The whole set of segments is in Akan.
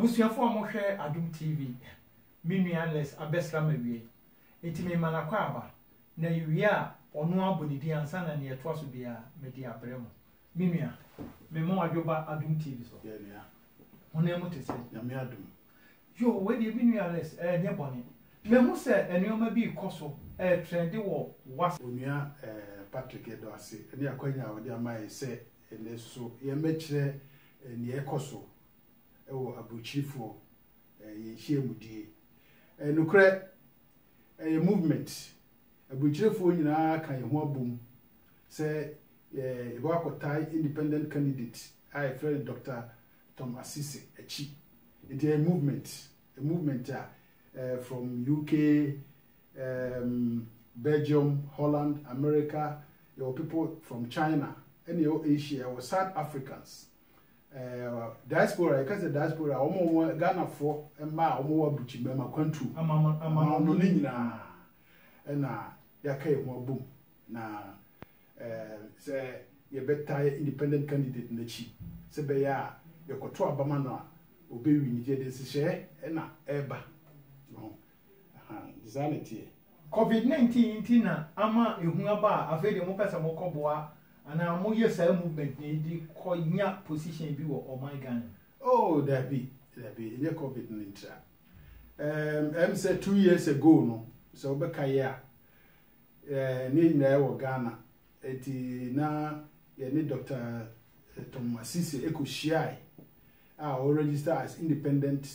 abusuafo a wɔhwɛ adom tv me nua les abɛsra ma wiei enti me ma nakɔ aba na ewie a ɔno abɔ ne din ansa na nea ɛtoa so biara mede abrɛ mo Me nua, mema w'adwo ba Adom TV so. Yeah, nua. Honam mu te sɛ. Nyame adom. Yoo, wei deɛ me nua Alex, ɛɛ nyɛ bɔne. Mahu sɛ nneɛma bi rekɔ so, ɛɛ trɛnde wɔ Whats. Onua ɛɛ Patrick, yɛda wo ase ne akwanya a wode ama yɛn sɛ ɛnnɛ so yɛmmɛkyerɛ nea ɛrekɔ so wɔ Aburokyirifoɔ ɛɛ yɛn nhyiamudie. Ɛɛ nokorɛ, ɛyɛ movement. Aburokyirifoɔ nyinaa ka yɛn ho abom sɛ yɛbɛkɔ tae independent candidate a yɛfrɛ no Doctor Tom Asisi akyi. Nti ɛyɛ movement, a movement a from UK, um, Belgium, Holland, America, yɛwɔ people from China, ɛne yɛwɔ Asia, yɛwɔ South Africans. Uh, diaspora, yɛka sɛ diaspora, wɔn a wɔn Ghanafoɔ mmaa a wɔn wɔ abukyi mmarima kwantuo, amano ne nyinaa, ɛna yɛaka yɛn ho abom Na sɛ yɛbɛtae independent candidate no akyi sɛ ɛbɛyɛ a yɛkɔto aba ma no a ɔbɛwin nti yɛde nhyehyɛɛ na ɛreba. Wahu? Aha, nti saa na ɛteɛ. Covid 19 nti na ama ehu aba a afei deɛ mopɛ sɛ mokɔboa anaa moyɛ saa movement no de kɔnya position bi wɔ ɔman Ghana mu? Oh, dabi, dabi, ɛnyɛ Covid no ntira. Ɛm, ɛm sɛ two years ago no, sɛ wobɛkaeɛ a, Yɛn nyinaa wɔ Ghana, enti na yɛne Dɔkta Tom Asisi kɔhyiae a ɔregister as independent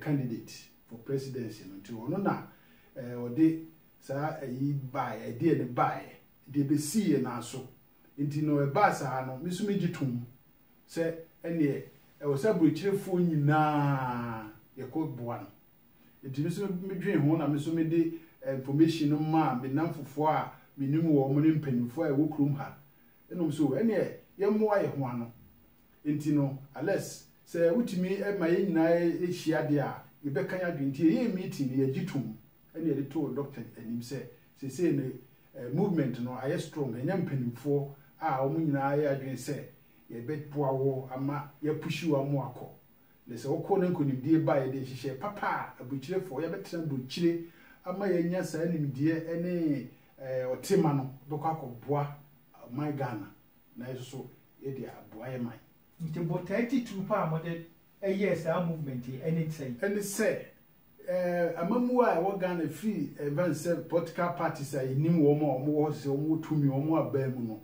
candidate for presidency no, nti ɔno na ɔde saa ayi baeɛ, ɛdeɛ no baeɛ, deɛ ɛbɛsii yɛn nan so nti no, ɛbaa saa no, me nso megye toom sɛ ɛnneɛ ɛwɔ sɛ aburokyerefoɔ nyinaa yɛkɔboa no, Nti me nso me dwene ho na me nso mede information no maa me nnamfofoɔ a menim wɔn ne mpanimfoɔ a ɛwɔ kurom ha. Ɛna wɔn so ɛneɛ yɛmmoa yɛn ho ano. Nti no Alex sɛ wotumi ma yɛn nyinaa ɛhyia deɛ a yɛbɛka yɛn adwene. Nti yɛyɛɛ meeting no yɛgye toom ɛna yɛde too Doctor anim sɛ seesei no movement no ayɛ strong yɛanya mpanimfoɔ a wɔn nyinaa ayɛ adwene sɛ yɛbɛboa wo ama yɛapushi wo ama wakɔ Na sɛ wɔkɔ na nkonimdie ba a, yɛde nhyehyɛɛ papa a aburukyirefɔɔ yɛabɛtena aburukyire ama yɛanya saa nimdeɛ ne ɔtema no bɛkɔ akɔboa ɔman Ghana na yɛn nso so yɛde aboa yɛn man. Nti botae titiriw paa a mode yɛɛ saa movement yi ne sɛn? Ɛne sɛ, amammuo a ɛwɔ Ghana firi mfa ne sɛ political parties a yɛnim wɔn a wɔwɔ hɔ te sɛ wɔn wɔ tumi wɔn abaa mu no,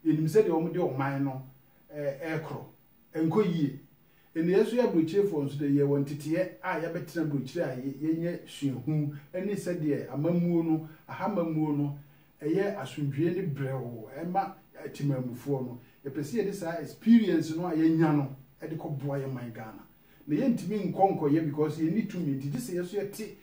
yɛnim sɛdeɛ wɔde ɔman no rekorɔ. Ɛnkɔ yie. Nneyɛɛ nso yɛ aburokyirefoɔ nso deɛ yɛ wɔ nteteɛ a yɛabɛtena aburokyire a yɛnya suahu ne sɛdeɛ amammuo no, aha amammuo no ɛyɛ asomdwoeɛ ne brɛoo ɛma Temanmufoɔ no. Yɛpɛ sɛ yɛde saa experience no a yɛanya no de kɔ boa yɛ man Ghana. Na yɛntumi nkɔ nkɔyɛ because yɛnni tumi nti gyesɛ yɛso yɛte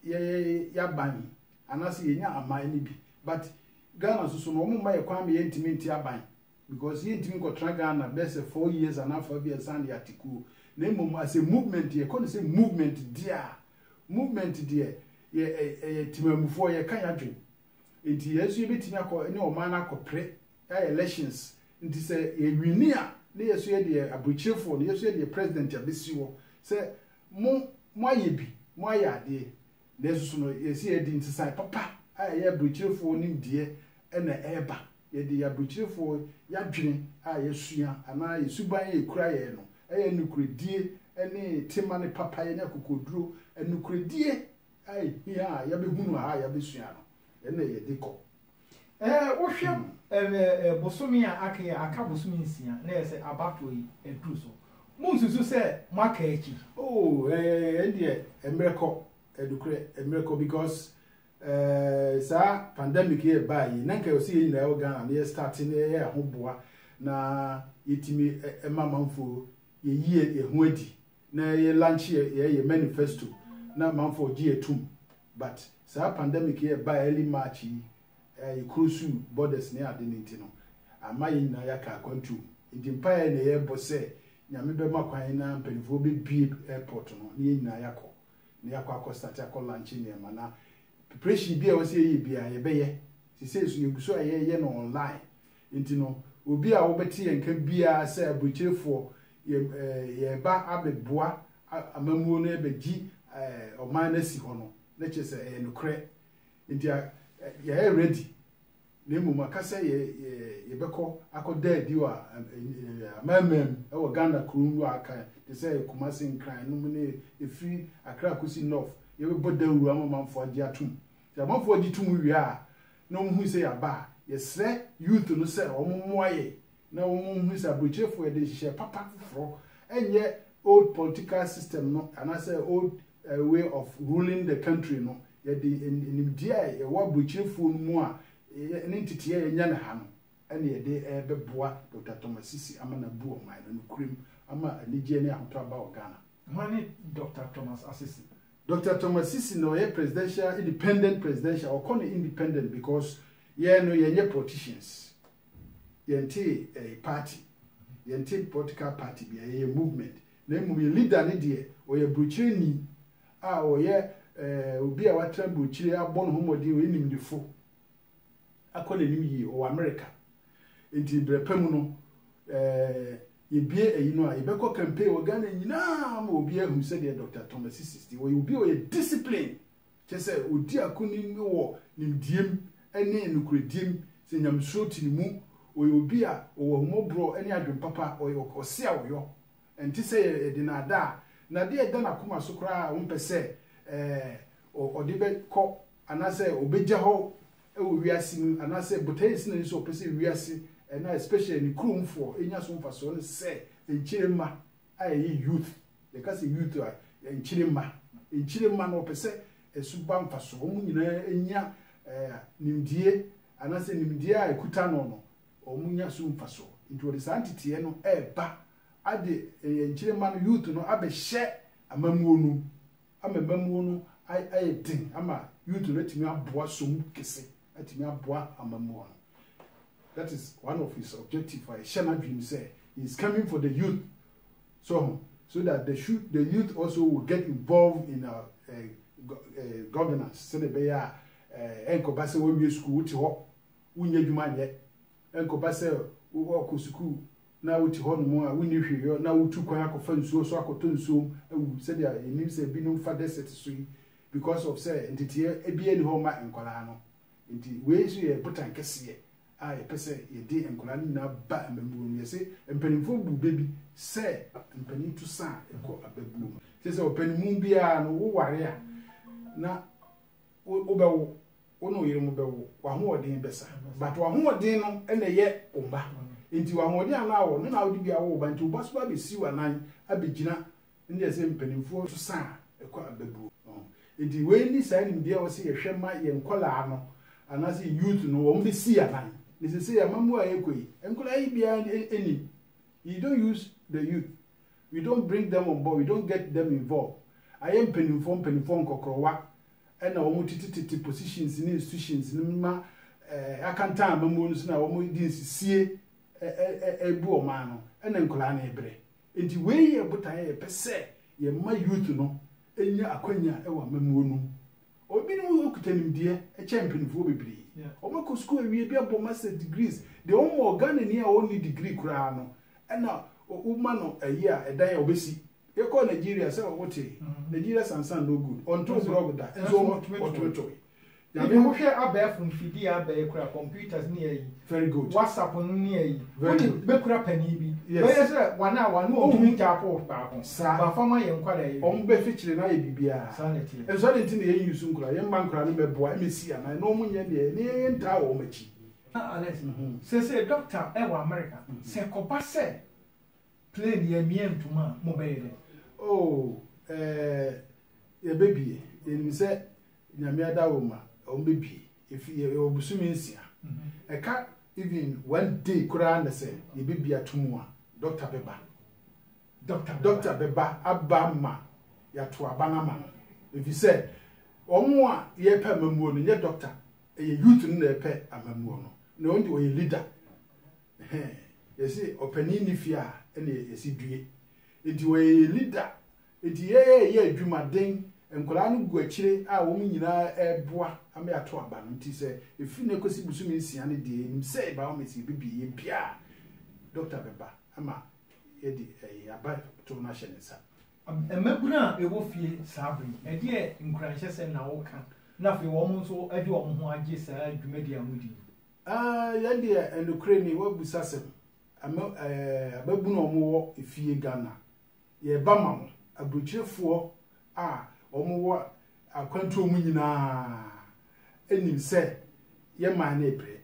yɛ yɛaban anaasɛ yɛnya aman no bi but Ghana nso so no wɔn mma yɛ kwan ma yɛntumi nte aban Because yɛ ntimi nkɔtra Ghana bɛyɛ sɛ four years anaa afa bi ansa na yɛ ate kuo na mmom as a movement yɛ kɔ no sɛ movement deɛ a movement deɛ yɛ ɛyɛ timamufoɔ yɛ ka yɛ adwen nti yɛ nso yɛ bɛtimi akɔ ne ɔman no akɔ pre ayɛ elections nti sɛ yɛ wini a ne yɛ so yɛ deɛ abrokyerefoɔ no yɛ so yɛ deɛ president a bɛsi hɔ sɛ mo mo ayɛ bi mo ayɛ adeɛ Nanso so no yɛse yɛde nsesae papa a ɛyɛ aburokyerefɔɔ nimdeɛ na ɛreba? Yɛde yɛn aburokyerefɔɔ yadwene a yasua anaa yɛn suban a ɛkura yɛn no yɛ nokorɛdie ne tema ne papayɛ ne akokoɔduro, nokorɛdie a ɛhia a yabɛhunu ha a yabɛsua no na yɛde kɔ? Wohwɛ bosome a aka yi a, aka bosome nsia na ɛyɛ sɛ abatoɔ yi aduru so. Monsusu sɛ moaka akyi. Oh, ɛdeɛ mmerɛ kɔ, ɛnokorɛ mmerɛ kɔ because saa pandemic yɛ baa yi, na nka ɔsɛ yɛn nyinaa wɔ Ghana na yɛ start na yɛyɛ ahoboa na yɛtumi ma amanfoɔ yɛyi yɛn ho adi na yɛ lankye yɛ yɛ yɛ manifesto na amanfoɔ gye yɛ tum but saa pandemic yi a ɛbaa early March yi a yɛ closuu borders ne ade no nti no ama yɛ nyinaa yɛaka akwantuo nti mpaeɛ na yɛbɔ sɛ Nyame bɛma kwan na mpaninfoɔ bɛbue airport no na yɛ nyinaa yɛakɔ na yɛakɔ akɔ start akɔ lankye nneɛma na preparation bi a ɛwɔ sɛ yɛyɛ biara yɛbɛyɛ sesei nso yɛgu so a yɛyɛ no online Nti no, obi a wobɛte yɛn nka biara sɛ aburokyerefoɔ, yɛ yɛreba abɛboa amammuo no abɛgye ɔman no asi hɔ no, na kyerɛ sɛ ɛyɛ nokorɛ. Nti a yɛayɛ ready, na mmom aka sɛ yɛ yɛ yɛbɛkɔ akɔda adi wɔ amamam wɔ Ghana kuro mu a aka te sɛ Kumasi, Nkran nom ne ɛfiri Accra kɔsi North, yɛbɛbɔ dawuro ama amanfoɔ agye atom. Sɛ amanfoɔ gye tom wie a, na wɔn hui sɛ yɛaba a, yɛsrɛ youth no sɛ wɔn mmoa yɛn na wɔn nhunu sɛ aburokyirefo yɛde nhyehyɛɛ papa foforɔ ɛnyɛ old political system no anaasɛ old way of ruling the country no yɛde animdeɛ a ɛwɔ aburokyirefoɔ no mu a ne nteteɛ a yɛnya no ha no ɛna yɛde ɛbɛboa Dr. Thomas Sisi ama no abu ɔman no nokorɛm ama anigyeɛ ne ahotɔ aba wɔ Ghana. Hwan ne Dɔkta Thomas Asisi? Dɔkta Thomas Asisi na ɔyɛ presidential independent presidential wɔkɔ no independent because yɛn no yɛnyɛ politicians yɛnte eh, party yɛnte political party bia yɛyɛ movement na mmom yɛ leader ne deɛ ɔyɛ burokyerɛni a ɔyɛ eh, obi a watena burokyire abɔ ne ho mmɔden ɔyɛ nimdefo akɔ n'anim yie wɔ Amerika. Nti berɛ pa mu no, yɛbue ayi no a, yɛbɛkɔ campaign wɔ Ghana nyinaa ma obi ahu sɛdeɛ Dɔkta Thomas Sissis te. Ɔyɛ obi a ɔyɛ discipline, kyerɛ sɛ ɔdi akonim wɔ nimdeɛm ne nokorɛdiem, sɛ nyamesuro te ne mu. Ɔyɛ obi a ɔwɔ ahummɔborɔ ne adwene papa, ɔyɛ ɔse a ɔyɔ. Ɛnte sɛ yɛde no ada a, na adeɛ a ɛda n'akoma so koraa a ɔmpɛ sɛ ɔde bɛkɔ Anaasɛ ɔbɛgya hɔ wɔ wiase mu anaasɛ botaeɛ asi n'ani sɛ ɔpɛ sɛ wiase na especially ne kuromfoɔ nya so mfasoɔ ne sɛ nkyiremma a ɛyɛ youth, yɛka sɛ youth a nkyiremma, nkyiremma no ɔpɛ sɛ ɛso ba mfasoɔ, wɔn nyinaa nya nimdie anaasɛ nimdie a ɛkuta no no wɔn nya so mfasoɔ. Nti wɔde saa nteteɛ no ɛreba ade nkyiremma no, youth no abɛhyɛ amammuo no mu. ama amammuo no ayɛ den ama youth no atumi aboa som kɛse atumi aboa amammuo no that is one of his objective a ɛhyɛ n'adwene mu sɛ he is coming for the youth so ho so that the, should, the youth also will get involved in our, uh, eh, go, uh, eh, governance sɛdeɛ ɛbɛyɛ a eh, ɛnkɔba sɛ wawie sukuu wote hɔ wonyɛ adwuma nyɛ ɛnkɔba sɛ wɔkɔ sukuu na wote hɔnom a wonni hwee yɔ na wotu kwan akɔfa nsuo so akɔtɔ nsuom awu sɛdeɛ yɛnim sɛ binom fa desert so yi because of sɛ nteteɛ biara nni hɔ mma nkwadaa no nti wei nso yɛ botan kɛseɛ a yɛpɛ sɛ yɛde nkwadaa no nyinaa ba amammuo mu yɛse mpanimfoɔ bu bɛ bi sɛ mpanin to sa a ɛkɔ ababuo mu. Kyerɛ sɛ ɔpanimu biara no woware a na wobɛwo wo ne wo yere mo bɛwo, w'ahoɔden bɛsa. But w'ahoɔden no na ɛyɛ wo mma. Nti w'ahoɔden a na awɔ no na wode bi awo wo ba. Nti wo ba so ba bɛsi w'anan abɛgyina ne deɛ sɛ mpanimfoɔ so sa a ɛkɔ abɛbuo. Nti wei ne saa nimdeɛ a wɔse yɛhwɛ ma yɛn nkwadaa no anaasɛ yɛn youth no wɔn bɛsi yɛn anan. Ne sese yɛn amamuo a yɛkɔ yi, nkwadaa yi biara nim. You don't use the youth. You don't bring them on board. You don't get them involved. Ayɛ mpanimfoɔ mpanimfoɔ nkɔkorɔwa na wɔn tetetete positions ne institutions no ma eh, akantan amamuo no so na wɔn de nsisie eh, eh, eh, eh, bu ɔman no ɛna nkwadaa no ɛbrɛ nti wei yɛ botaeɛ a yɛpɛ sɛ yɛma youth no nya akwanya wɔ amamuo no mu obinom kuta nimdeɛ kyɛ mpanimfoɔ bebree Yeah. wɔakɔ sukuu awie bi abɔ master degrees deɛ wɔmmɔ ghana ni a ɔnni degree koraa no ɛna wo- woma no ɛyi a ɛdan a wɔbɛsi Yɛkɔɔ Nigeria sɛ wotee? Nigeria sansan no good ɔntoo blog da nso ɔtumi toe. Nyame. Bibi wohwɛ abɛɛfo mfidie a abɛɛ kura computers ne ayi. Very good. Whatsapp no ne ayi. Very good. Wonim bɛkura panin bi. Yes. Bɛyɛ sɛ wɔn a wɔn a wɔtumi tap off baako. Saa. Ba fa ma yɛn nkwadaa yi. Wɔn bɛ fikyere na ayɛ biribiara. Saa na ɛteɛ. Nso adɛn nti na yɛn use nkwadaa? Yɛn mma nkwadaa no mmɛboa mmɛsi anan na wɔn nyɛ deɛ ne yɛn ntaa wɔn akyi. Alex, seesei doctor wɔ America, sɛ ɛkɔba sɛ Plane yɛ mia ntom a mo bɛ yɛ dɛn. Oh ɛɛ yɛbɛ bie yɛnim sɛ nyame adaworoma ɔmo bɛ bie efi yɛ yɛwɔ bosome nsia ɛka even one day koraa na sɛ yɛbɛ bie ato mu a doctor bɛ ba doctor doctor bɛ ba aba ma yɛato aba no ama no efi sɛ ɔmo a yɛpɛ amamuo no nyɛ doctor ɛyɛ youth no na ɛpɛ amamuo no na ɔno deɛ ɔyɛ leader. Ɛhɛɛ, yɛse ɔpanin nni fie a ɛneɛ yɛse due. Enti ɔyɛ yɛn leader. Enti yɛɛ yɛ adwuma den. Nkwadaa no gu akyire a wɔn nyinaa ɛreboa ama yɛato aba no. Nti sɛ ɛfiri nnɛ kɔsi bosome nsia no deɛ yɛnim sɛ by all means yɛbɛbie. Yɛbie a, doctor bɛba ama yɛde ɛyi aba toɔ no ahyɛ ne nsa. Mmabunu a ɛwɔ fie saa berɛ yi, ɛdeɛ nkuranhyɛsɛm na woka? Na afei wɔn nso de wɔn ho agye saa dwumadie a modi yi? Aah yɛ deɛ ɛnokorɛ nie w'abusa asɛm ama ɛɛ ababunu a wɔn wɔ efie Ghana yɛba ma mo abrokyire foɔ a wɔn wɔ akwantuo mu nyinaa nim sɛ yɛ man no ɛbrɛ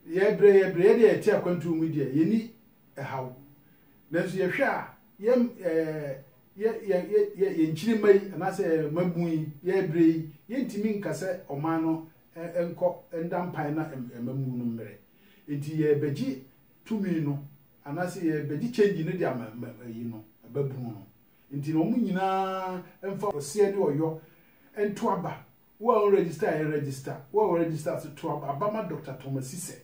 yɛ brɛ yɛ brɛ yɛ deɛ yɛte akwantuo mu deɛ yɛ ni ɛhaw nanso yɛ hwɛ a yɛ ɛɛ yɛ yɛ yɛ yɛ yɛ nkyiri mma yi anaasɛ yɛ mabun yi yɛ brɛ yi yɛ ntumi nkasɛ ɔman no nkɔ nda mpae na mmamu no mmerɛ. Enti yɛrebɛgye tumi no anaasɛ yɛrebɛgye kyɛngyi no de ama ayi no, babunu no. Enti na wɔn nyina ara mfa ɔseɛ ne ɔyɔ nto aba. Wo a wo register a register, wo a wo register nso to aba ma Doctor Thomas Sisɛ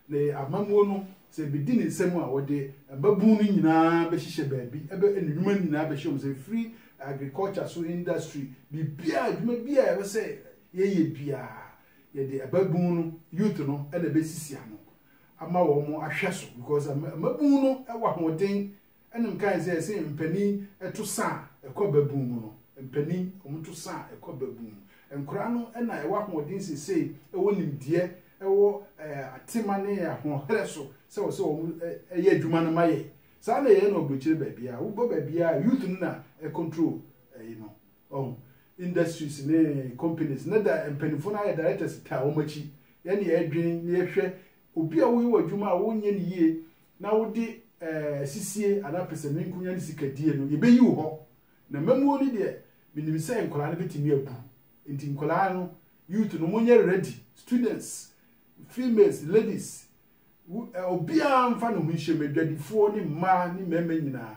Ne amammuo no, sɛ ɛbɛdi ne nsam a, wɔde mmabunu no nyinaa bɛhyehyɛ baabi, ɛbɛ ne nnwuma no nyinaa bɛhyɛ wɔn nsa, ɛfiri agriculture so, industry, biribiara, adwuma biara a ɛwɔ sɛ yɛyɛ biara, yɛde ababunu no, youth no, na ɛbɛsisi ano ama wɔn ahwɛ so, because mmabunu no wɔ ahoɔden Ɛna mekae sɛ, Sɛ mpanin to sa a ɛkɔ babun mu no, mpanin, wɔto sa a ɛkɔ babun mu. Nkwadaa no na ɛwɔ ahoɔden seesei, ɛwɔ nimdeɛ, ɛwɔ atema ne ahoɔherɛ so sɛ wɔsɛ wɔyɛ adwuma no ma yɛn. Saa na yɛyɛ no aburokyire baabiara. Wokɔ baabiara, youth no na ɛcontrol ɛyi no. Ɔho, industries ne companies no da mpanimfoɔ no ayɛ directors taa wɔn akyi. Yɛn na yɛdwene na yɛhwɛ Obi a woyɛ w'adwuma a wonyɛ no yie na wode asisie anaa pɛsɛmenkonya ne sika die no, yɛbɛyi wo hɔ. Na mmamuo no deɛ, menim sɛ nkwadaa no bɛtumi abu. Nti nkwadaa no, youth no, monyɛ ready. Students, females, ladies, obiara mfa ne ho nhyɛ mu, adwadifoɔ ne mmaa ne mmarima nyinaa.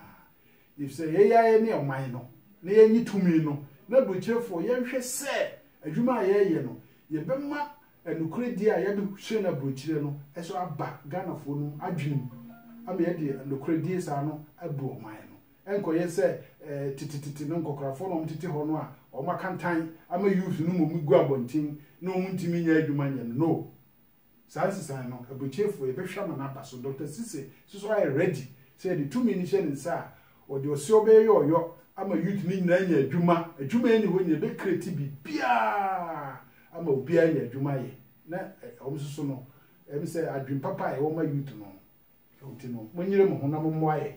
Efisɛ yɛyɛ a yɛne ɔman no, na yɛnnye tumi no, na aburokyerefoɔ, yɛnhwɛ sɛ adwuma a yɛreyɛ no, yɛbɛma Nokorɛdie a yɛde hyɛ no aburokyire no nso aba Ghanafoɔ no adwene mu ama yɛde nokorɛdie saa no abu ɔman no. Ɛnkɔyɛ sɛ tetetete no nkɔkorafoɔ na wɔtete hɔ no a wɔn akantan ama youth no mmom gu abɔnten na wɔn ntumi nyɛ adwuma nyɛ no. No. Saa nsesaeɛ no, aburokyire foɔ yɛbɛhwɛ ama no aba so. Doctor Sise nso so ayɛ ready sɛ yɛde tumi no hyɛ ne nsa a Wɔde ɔseɔ bɛyɛ ɔyɔ ama youth no nyinaa anya adwuma. Adwuma nni hɔ nyina ɛbɛ create biribiara ama obiara anya adwuma ayɛ na wɔn nso so no ɛm sɛ adwene papa a ɛwɔ ma youth no ɛwɔ nti no mo nyere mo ho na mo mmoa yɛn.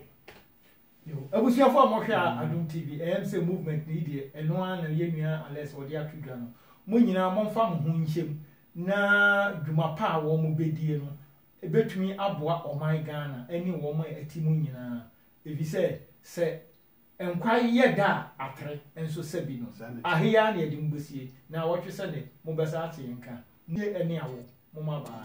Yo abusuafo a mo hwɛ a adom TV ɛm sɛ movement no yi deɛ ɛno ara na yɛn nua Alex ɔde ato dwa no mo nyinaa mo mfa mo ho nhyɛm na dwuma pa a wɔn bɛdie no ɛbɛtumi aboa ɔman Ghana ɛne wɔn a ɛte mu nyinaa Efisɛ sɛ nkwa yɛ da a atere nso sɛ bi no, ahe ara na yɛde mo besie, na awɔtwe sɛ nnɛ mobɛsan ate yɛn nka, Mue ɛne awo, mo mmabaa.